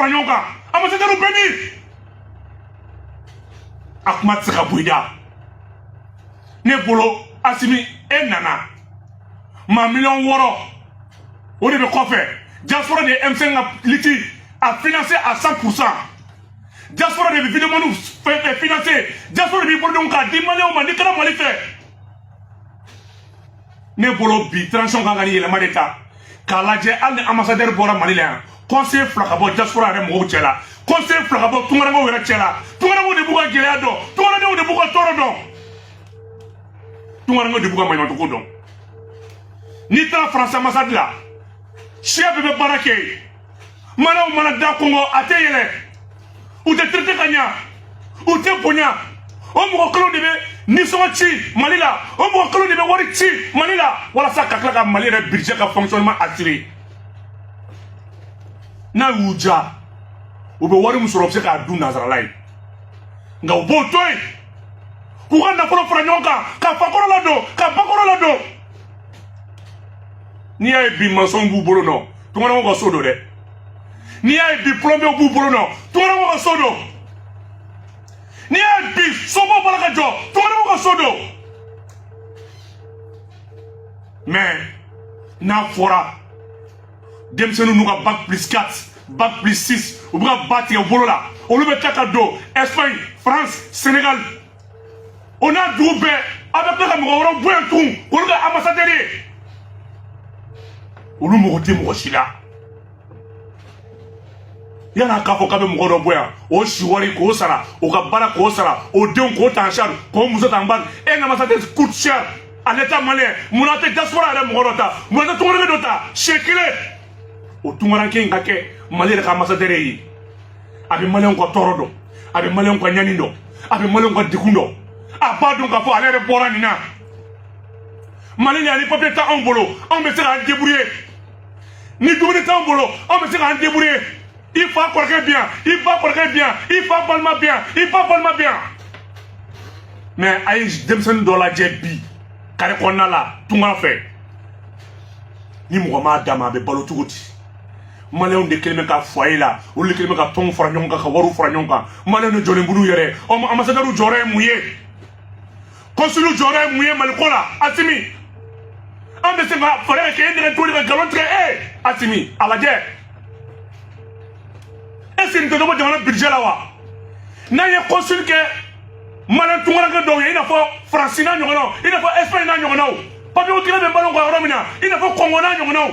fara ɲɔgɔn kan ambassadeur bɛ yen a kuma tɛ se ka bɔ i da ne bolo asimi e nana maa miliyɔn wɔɔrɔ o de bɛ kɔfɛ diaspora de ye M5 ka liti a financer à 100 pour cent diaspora de bɛ vidéomaniw financer diaspora de b'i bolodenw k'a di maliyɛnw ma n'i kɛra mali fɛ ne bolo bi transition kan ka ni yɛlɛma de ta k'a lajɛ hali ni ambassadeur bɔra mali la yan conseil fila ka bɔ diaspora yɛrɛ mɔgɔw cɛ la conseil fila ka bɔ tungarankew yɛrɛ cɛ la tungarankew de b'u ka gɛlɛya dɔn tungarankew de b'u ka tɔɔrɔ dɔn tungarankew de b'u ka maɲumatɔko dɔn n'i taara france ambassade la siya bɛɛ bɛ baara kɛ yen malɛnw mana da kɔnkɔn a tɛ yɛlɛ u tɛ traiter ka ɲa u tɛ bonya o mɔgɔ kelenw de bɛ nisɔngɔ ci mali la o mɔgɔ kelenw de bɛ wari ci mali la walasa ka tila ka mali yɛrɛ budget ka fonctionnement assurer n'a y'u diya u bɛ wari min sɔrɔ u bɛ se k'a dun nanzarala yen nka u b'o to yen k'u ka nafolo fara ɲɔgɔn kan ka fakɔrɔ ladon ka bakɔrɔ ladon n'i y'a ye bi masɔnw b'u bolo nɔ tunganamɔgɔw ka so don dɛ n'i y'a ye bi plombierw b'u bolo nɔ tunganamɔgɔw ka so don n'i y'a ye bi sobaw b'a la ka jɔ tunganamɔgɔw ka so don mais n'a fɔra denmisɛnninw n'u ka bac plus 4 bac plus 6 u bɛ ka ba tigɛ bolo la olu bɛ taa ka don espagne france sénégal o n'a dugu bɛɛ aw bɛ tila ka mɔgɔ wɛrɛw bɔ yan tun olu ka ambassadeur ye olu mako tɛ mɔgɔ si la yan na k'a fɔ k'a bɛ mɔgɔ dɔ bɔ yan o siwari k'o sara o ka baara k'o sara o denw k'o ta en charge k'o muso ta en charge un ambassadeur coûte cher à l'état malien mun na tɛ diaspora yɛrɛ mɔgɔ dɔ ta mun na tɛ tungaranke dɔ ta siɲɛ kelen o tungaranke in ka kɛ mali yɛrɛ ka ambassadeur ye a bɛ maliyɛnw ka tɔɔrɔ dɔn a bɛ maliyɛnw ka ɲani dɔn a bɛ maliyɛnw ka degun dɔn a b'a dɔn k'a fɔ ale yɛrɛ bɔra nin na mali la yan ni papier t'anw bolo anw bɛ se k'an débrouiller ni dumuni t'anw bolo anw bɛ se k'an débrouiller i fa kɔrɔkɛ bɛ yan i ba kɔrɔkɛ bɛ yan i fa balima bɛ yan i ba balima bɛ yan mais a ye denmisɛnnin dɔ lajɛ bi kare kɔnɔna la tunga fɛ ni mɔgɔ m'a d'a ma a bɛ balo cogo di malɛnw de kɛlen bɛ ka foyer la olu de kɛlen bɛ ka tɔnw fara ɲɔgɔn kan ka wariw fara ɲɔgɔn kan malɛnw de jɔlen b'olu yɛrɛ o ambassadeurw jɔyɔrɔ ye mun ye consul jɔyɔrɔ ye mun ye mali ko la asimi an bɛ se ka fɛɛrɛ ka kɛ e nɛgɛn toli ka nkalon tigɛ e asimi a lajɛ est-ce qu'o tɛ dɔ bɔ jamana budget la wa n'an ye consul kɛ malɛn tungaranke dɔw ye i n'a fɔ faransi n'a ɲɔgɔnnaw i n'a fɔ espagne n'a ɲɔgɔnnaw papier gɛlɛya bɛ malɛnw kan yɔrɔ min na i n'a fɔ congo n'a ɲɔgɔnnaw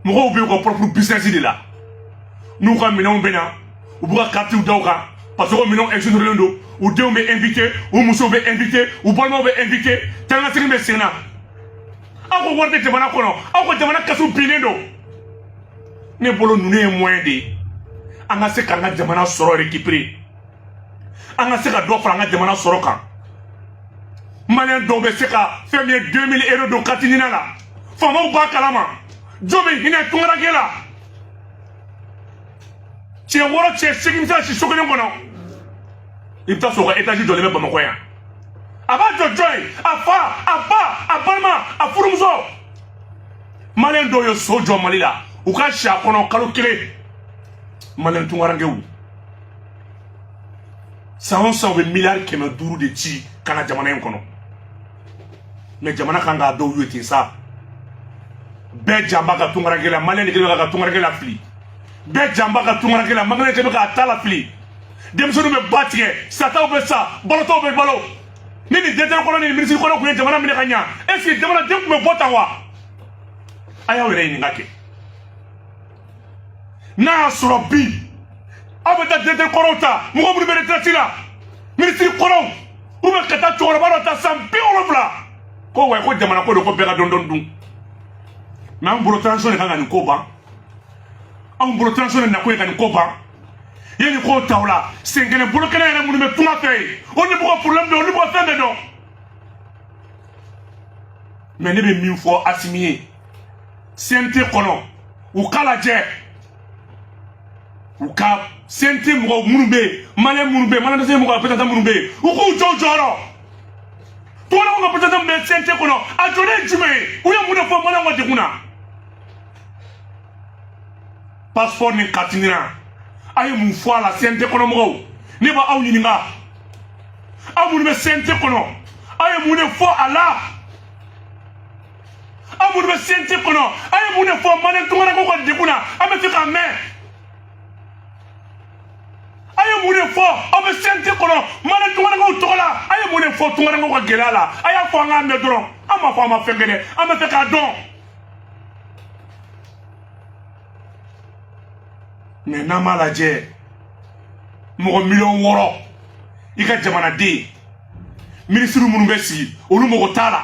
mɔgɔw b'u ka pɔrɔpuru bisinɛsi de la n'u ka minɛnw bɛ na u b'u ka karitiw da u kan parce que o minɛnw ɛkizonerelen don u denw bɛ ɛnvite u musow bɛ ɛnvite u balimaw bɛ ɛnvite tangasigi bɛ sen na aw ko wari tɛ jamana kɔnɔ aw ko jamana kɛsu binnen don ne bolo ninnu ye mɔyɛn de ye an ka se k'an ka jamana sɔrɔ rekipere an ka se ka dɔ fara an ka jamana sɔrɔ kan maliyɛn dɔw bɛ se ka fɛn min ye 2000 euro don kariti nina la faamaw b'a kalama jɔn bɛ hinɛ tunkaranke la cɛ wɔɔrɔ cɛ seegin bɛ se ka si so kelen kɔnɔ i bɛ taa sɔrɔ a ka etazi jɔlen bɛ bamakɔ yan a b'a jɔ jɔn ye a fa a ba a balima a furumuso maliyɛn dɔw ye so jɔ mali la u ka si a kɔnɔ kalo kelen maliyɛn tunkarankew san o san u bɛ miliyari kɛmɛ duuru de ci ka na jamana in kɔnɔ mɛ jamana kan k'a dɔw ye ten sa bɛɛ jan b'a ka tunkaranke la maliyɛn de kɛlen bɛ ka tunkaranke lafili bɛɛ jan b'a ka tunkaranke la maliyɛn de kɛlen bɛ k'a ta lafili denmisɛnninw bɛ ba tigɛ sataw bɛ sa balotaw bɛ balo ni nin dirɛkitɛri kɔrɔ ni nin minisiri kɔrɔ tun ye jamana minɛ ka ɲa est ce que jamanaden tun bɛ bɔ tan wa a y'aw yɛrɛ ɲininka kɛ n'a y'a sɔrɔ bi aw bɛ taa dirɛkitɛri kɔrɔw ta mɔgɔ minnu bɛ retraite la minisiri kɔrɔw u bɛ ka taa cɛkɔrɔba dɔ ta san bi wolonwula ko wayi ko jamana ko don ko bɛɛ ka dɔɔnin dɔɔnin dun mɛ an bolo transition de kan ka nin ko ban anw bolo transition de nakun ye ka nin ko ban yanni k'o ta o la sen kelen bolo kelen yɛrɛ minnu bɛ tunga fɛ yen olu de b'u ka problème dɔn olu de b'u ka fɛn bɛɛ dɔn mɛ ne bɛ min fɔ asimi ye cnt kɔnɔ u k'a lajɛ u ka cnt mɔgɔw minnu bɛ yen maliyɛn minnu bɛ yen maliyɛn dɛsɛ mɔgɔw représentant minnu bɛ yen u k'u jɔ u jɔyɔrɔ tungala mɔgɔw ka représentant min bɛ cnt kɔnɔ a jɔlen ye jumɛn ye u ye mun de fɔ maliyɛnw ka degun na pasipɔri ni kariti nina aw ye mun fɔ a la cnt kɔnɔ mɔgɔw ne b'aw ɲininka aw minnu bɛ cnt kɔnɔ aw ye mun de fɔ a la aw minnu bɛ cnt kɔnɔ aw ye mun de fɔ maliyɛn tunkarankew ka degun na an b'a fɛ k'a mɛn aw ye mun de fɔ aw bɛ cnt kɔnɔ maliyɛn tunkarankew tɔgɔ la aw ye mun de fɔ tunkarankew ka gɛlɛya la a y'a fɔ an k'a mɛn dɔrɔn an m'a fɔ aw ma fɛn kɛ dɛ an b'a fɛ k'a dɔn mɛ n'an b'a lajɛ mɔgɔ miliyɔn wɔɔrɔ i ka jamanaden minisiri minnu bɛ sigi olu mɔgɔ t'a la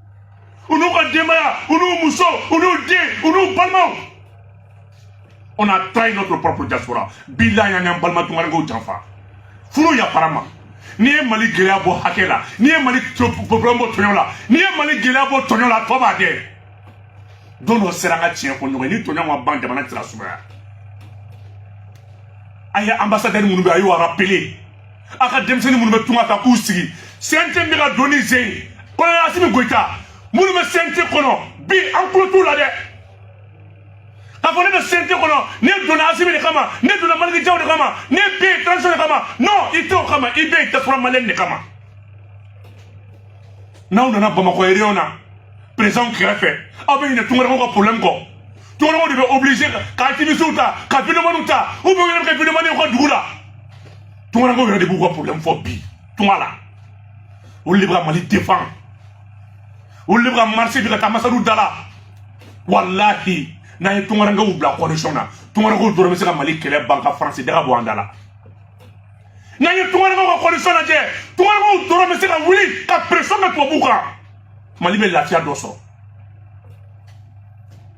u n'u ka denbaya u n'u muso u n'u den u n'u balimaw on a trahi notre propre diaspora bilahi an y'an balima tungarankew janfa furu yafara ma n'i ye mali gɛlɛya bɔ hakɛ la n'i ye mali problème bɔ tɔɲɔ la n'i ye mali gɛlɛya bɔ tɔɲɔ la tɔ b'a dɛ don dɔ sera an ka tiɲɛ fɔ ɲɔgɔn ye ni tɔɲɔ ma ban jamana tɛna sumaya a ye ambassadeur minnu bɛ a y'u rappeler a ka denmisɛnnin minnu bɛ tunga ta k'u sigi cnt bɛ ka don ni ze ye colonel asimi goyita minnu bɛ cnt kɔnɔ bi an tulo t'u la dɛ k'a fɔ ne bɛ cnt kɔnɔ ne donna asimi de kama ne donna maliki jaw de kama ne bɛ yen transition de kama non i tɛ o kama i bɛ yen diaspora maliyɛn de kama n'aw nana bamakɔ réunion na président kɛrɛfɛ aw bɛ ɲinɛ tungarankew ka problème kɔ tungarankew de bɛ obligé ka activistes ta ka videomaniw ta u bɛ wele kɛ videomaniw ka dugu la tungarankew yɛrɛ de b'u ka problème fɔ bi tunga la olu de bɛ ka mali défend olu de bɛ ka marcher bi ka taa ambassade da la walahi n'an ye tungarankew bila condition na tungarankew dɔrɔn bɛ se ka mali kɛlɛ ban ka faransi daga bɔ an da la n'an ye tungarankew ka condition lajɛ tungarankew dɔrɔn bɛ se ka wuli ka pression kɛ tubabuw kan mali bɛ lafiya dɔ sɔrɔ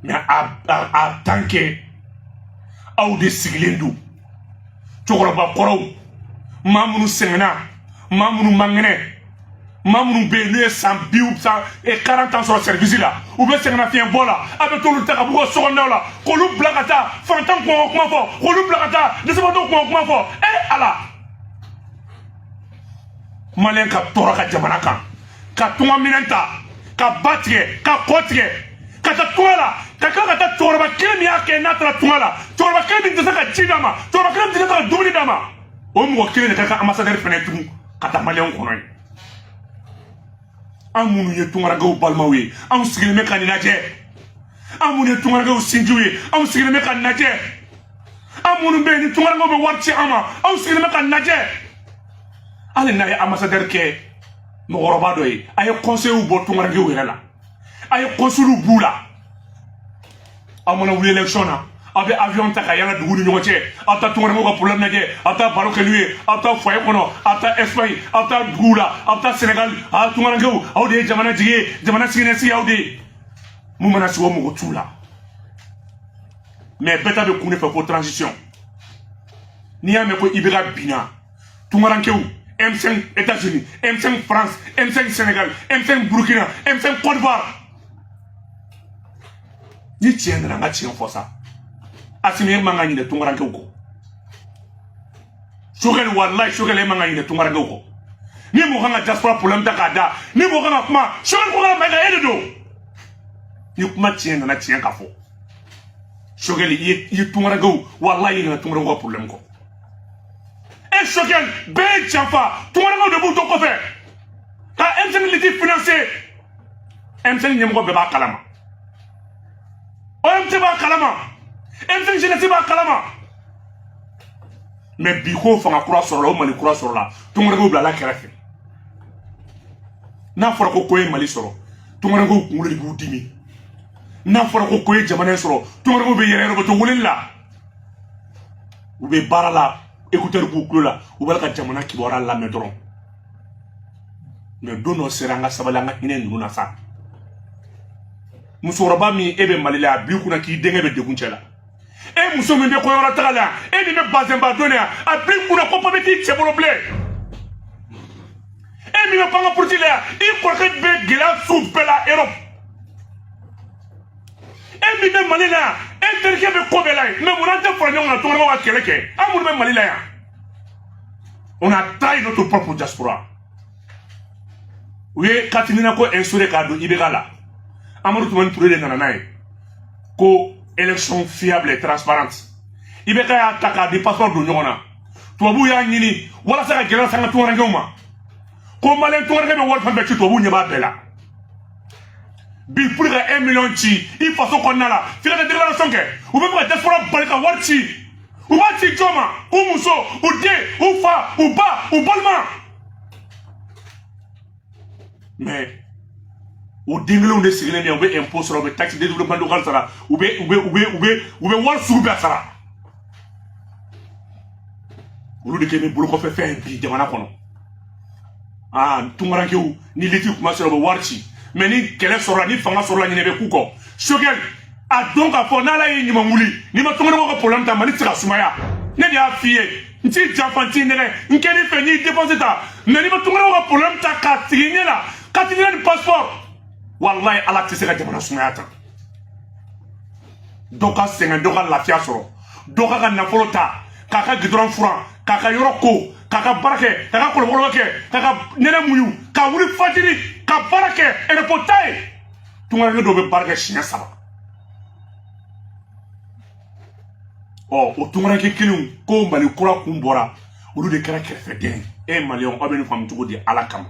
mais en tant que aw de sigilen don cɛkɔrɔba kɔrɔw maa minnu sɛgɛnna maa minnu mangɛnɛ maa minnu bɛ yen n'u ye san bi san quarante ans sɔrɔ sɛribisi la u bɛ sɛgɛnnafiɲɛbɔ la a bɛ t'olu ta ka b'u ka sokɔnɔnaw la k'olu bila ka taa fantan kunko kuma fɔ k'olu bila ka taa dɛsɛbagatɔw kunko kuma fɔ ee ala maliyɛn ka tɔɔrɔ a ka jamana kan ka tunga minɛn ta ka ba tigɛ ka kɔ tigɛ ka taa tunga la ka ka ka taa cɛkɔrɔba kelen min y'a kɛ n'a taara tunga la cɛkɔrɔba kelen min tɛ se ka ji d'a ma cɛkɔrɔba kelen min tɛ se ka dumuni d'a ma o mɔgɔ kelen de ka kɛ ambassadeur fɛnɛ tugun ka taa maliyɛnw kɔnɔ ye an minnu ye tungarankew balimaw ye anw sigilen bɛ ka nin lajɛ an minnu ye tungarankew sinjiw ye anw sigilen bɛ ka nin lajɛ an minnu bɛ yen ni tungarankew bɛ wari ci an ma anw sigilen bɛ ka nin lajɛ hali n'a ye ambassadeur kɛ mɔgɔkɔrɔba dɔ ye a ye kɔnseyiw bɔ tungarankew yɛrɛ la a ye kɔnsuluw b'u la aw mana wuli election na aw bɛ avion ta ka yala dugu ni ɲɔgɔn cɛ aw taa tungarankew ka problème lajɛ aw taa baro kɛ n'u ye aw taa foyer kɔnɔ aw taa espagne aw taa duguw la aw taa sénégal aw tungarankew aw de ye jamana jigi ye jamana siniɲɛsigi aw de ye min mana sigi o mako t'u la mais bɛɛ ta bɛ kun de fɛ ko transition n'i y'a mɛn ko i bɛ ka binna tungarankew M5 États-Unis, M5 France, M5 Sénégal, M5 Burkina, M5 Côte d'Ivoire. Ni tiɲɛ nana an ka tiɲɛ fɔ sa asimi e man ka ɲinɛ tunkarankew kɔ sokɛli walayi sokɛli e man ka ɲinɛ tunkarankew kɔ ni mɔgɔ kan ka diaspora problème ta k'a da ni mɔgɔ kan ka kuma sokɛli kokala mayiga e de don ni kuma tiɲɛ nana tiɲɛ ka fɔ sokɛli i ye tunkarankew walayi i ɲinɛna tunkarankew ka problème kɔ e sokɛli bɛɛ ye janfa tunkarankew de b'u to kɔfɛ ka M5 liti finanse M5 ɲɛmɔgɔ bɛɛ b'a kalama omt b'a kalama M5 jenɛsi b'a kalama mɛ bi ko fanga kura sɔrɔla o mali kura sɔrɔla tunkarankew bilala kɛrɛfɛ n'a fɔra ko ko ye mali sɔrɔ tunkarankew kunkolo de b'u dimi n'a fɔra ko ko ye jamana in sɔrɔ tunkarankew bɛ yɛrɛ yɛrɛ bɛ to weleli la u bɛ baara la écouteur b'u tulo la u b'a la ka jamana kibaruya lamɛn dɔrɔn mɛ don dɔ sera an ka sabali an ka hinɛ ninnu na sa musokɔrɔba min e bɛ mali la a b'i kunna k'i denkɛ bɛ degun cɛ la e muso min bɛ kɔyɔrɔ taga la e min bɛ bazɛnba don yan a b'i kunna ko papiye t'i cɛ bolo bilen e min bɛ pan ka puruti la yan i kɔrɔkɛ bɛ gɛlɛya sugu bɛɛ la erɔpu e min bɛ mali la yan e terikɛ bɛ ko bɛɛ la yen mɛ mun na an tɛ fara ɲɔgɔn kan tungarankew ka kɛlɛ kɛ an minnu bɛ mali la yan on a trahi notre propre diaspora u ye carte NINA ko instauré k'a don ibk la amadu tumani ture de nana n'a ye ko élection fiable et transparente ibk y'a ta k'a ni passeport don ɲɔgɔn na tubabuw y'a ɲini walasa ka gɛlɛya sanga tungarankew ma ko maliyɛn tungaranke bɛ wari fɛn bɛɛ ci tubabuw ɲɛ b'a bɛɛ la bi pour ka 1 million ci i faso kɔnɔna la f'i ka taa déclaration kɛ u bɛ fɛ ka diaspora bali ka wari ci u b'a ci jɔn ma u muso u den u fa u ba u balima mais o den kelenw de sigilen bɛ yan u bɛ impôt sara u bɛ taxe de développement local sara u bɛ wari sugu bɛɛ sara olu de kɛlen bɛ bolokɔfɛ fɛn ye bi jamana kɔnɔ aa tunkarankew ni liti kuma sera u bɛ wari ci mɛ ni kɛlɛ sɔrɔla ni fanga sɔrɔla ɲinɛ bɛ k'u kɔ sogɛli a dɔn k'a fɔ n'ala ye ɲuman wuli n'i ma tunkarankew ka problème ta mali tɛ se ka sumaya ne de y'a f'i ye n t'i janfa n t'i nɛgɛ n kɛ n'i fɛ n'i défense ta mɛ n'i ma tunganamɔgɔw ka problème ta k'a sigi ɲɛ la carte d'identité ni passeport walayi ala tɛ se ka jamana sumaya ta dɔ ka sɛgɛn dɔ ka lafiya sɔrɔ dɔ k'a ka nafolo ta k'a ka gudɔrɔn furan k'a ka yɔrɔ ko k'a ka baara kɛ k'a ka kɔlɔkɔlɔ kɛ k'a ka nɛnɛ muɲu ka wuli fajiri ka baara kɛ repos t'a ye tungaranke dɔw bɛ baara kɛ siɲɛ saba ɔ o tungaranke kelenw ko mali kura kun bɔra olu de kɛra kɛrɛfɛden e maliyɛnw aw bɛ nin faamu cogo di ala kama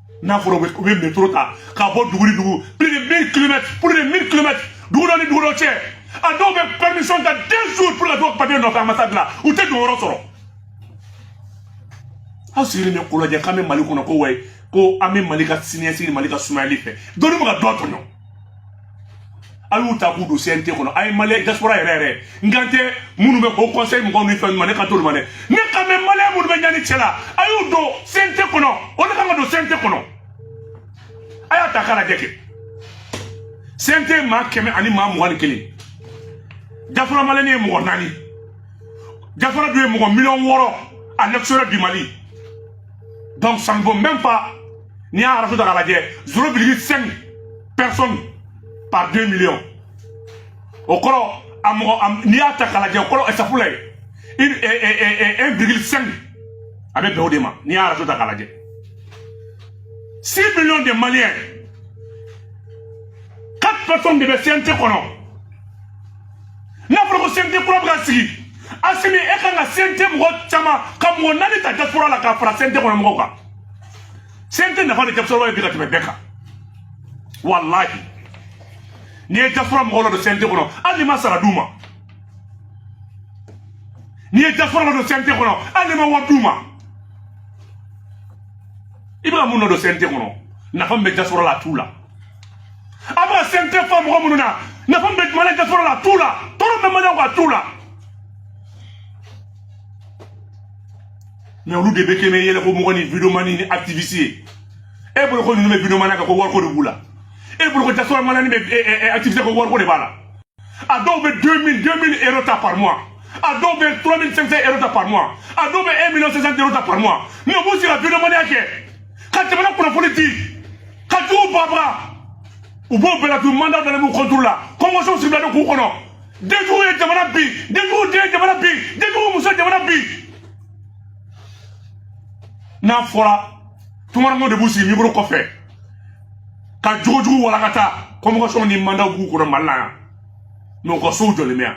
n'a fɔra u bɛ metro ta ka bɔ dugu ni dugu plus de 1000 kilomètres plus de 1000 kilomètres dugu dɔ ni dugu dɔ cɛ a dɔw bɛ permission ta deux jours pour ka t'o papier nɔfɛ ambassade la u tɛ don yɔrɔ sɔrɔ aw sigilen bɛ k'o lajɛ k'an bɛ mali kɔnɔ ko wayi ko an bɛ mali ka siniɲɛsigi ni mali ka sumayali fɛ dɔnni bɛ ka dɔ tɔɲɔ a y'u ta k'u don CNT kɔnɔ a ye maliyɛn diaspora yɛrɛ yɛrɛ n kan tɛ minnu bɛ haut conseil mɔgɔw ni fɛn ma ne kan t'olu ma dɛ ne kan bɛ maliyɛn minnu bɛ ɲani cɛ la a y'u don CNT kɔnɔ o de kan ka don CNT kɔnɔ a y'a ta k'a lajɛ kɛ CNT maa kɛmɛ ani maa mugan ni kelen diaspora maliyɛn ye mɔgɔ naani diaspora dun ye mɔgɔ miliyɔn wɔɔrɔ à l'extérieur du Mali donc ça ne vaut même pas n'i y'a ratio ta k'a lajɛ zéro virgule cinq personnes par deux millions o kɔrɔ a mɔgɔ n'i y'a ta k'a lajɛ o kɔrɔ ɛsafula ye une un virgule cinq a bɛ bɛn o de ma n'i y'a ratio ta k'a lajɛ six millions de maliens quatre personnes de bɛ cnt kɔnɔ n'a fɔra ko cnt kura bɛ ka sigi asimi e kan ka cnt mɔgɔ caman ka mɔgɔ naani ta diaspora la k'a fara cnt kɔnɔ mɔgɔw kan CNT nafa de diaspora ye bi ka tɛmɛ bɛɛ kan walahi n'i ye diaspora mɔgɔw ladon CNT kɔnɔ hali i ma sara d'u ma n'i ye diaspora ladon CNT kɔnɔ hali i ma wari d'u ma i bɛka minnu ladon CNT kɔnɔ nafa min bɛ diaspora la a t'u la a bɛ ka CNT fa mɔgɔ minnu na nafa min bɛ mali diaspora la a t'u la tɔɔrɔ min bɛ maliyɛnw kan a t'u la mais olu de bɛ kɛ mɛ yɛlɛko mɔgɔ ni videomani ni activiste ye e bolo ko ninnu bɛ videomaniya kɛ ko wariko de b'u la e bolo ko diaspora maliyɛnw bɛ activiste ko wariko de b'a la a dɔw bɛ 2000 euro ta par mois a dɔw bɛ 3500 euro ta par mois a dɔw bɛ 1 million 500 euro ta par mois mais u b'u sigi ka videomaniya kɛ ka jamana kunnafoni di ka juguw bagabaga u b'o bɛɛ la dun mandat dalen b'u contre la convocation sigilen don k'u kɔnɔ denjugu ye jamana bin denjugu den ye jamana bin denjugu muso ye jamana bin n'a fɔra tungarankew de b'u sigi mikoro kɔfɛ ka jogojugu walakata convocation ni mandat b'u kɔnɔ mali la yan mais u ka sow jɔlen bɛ yan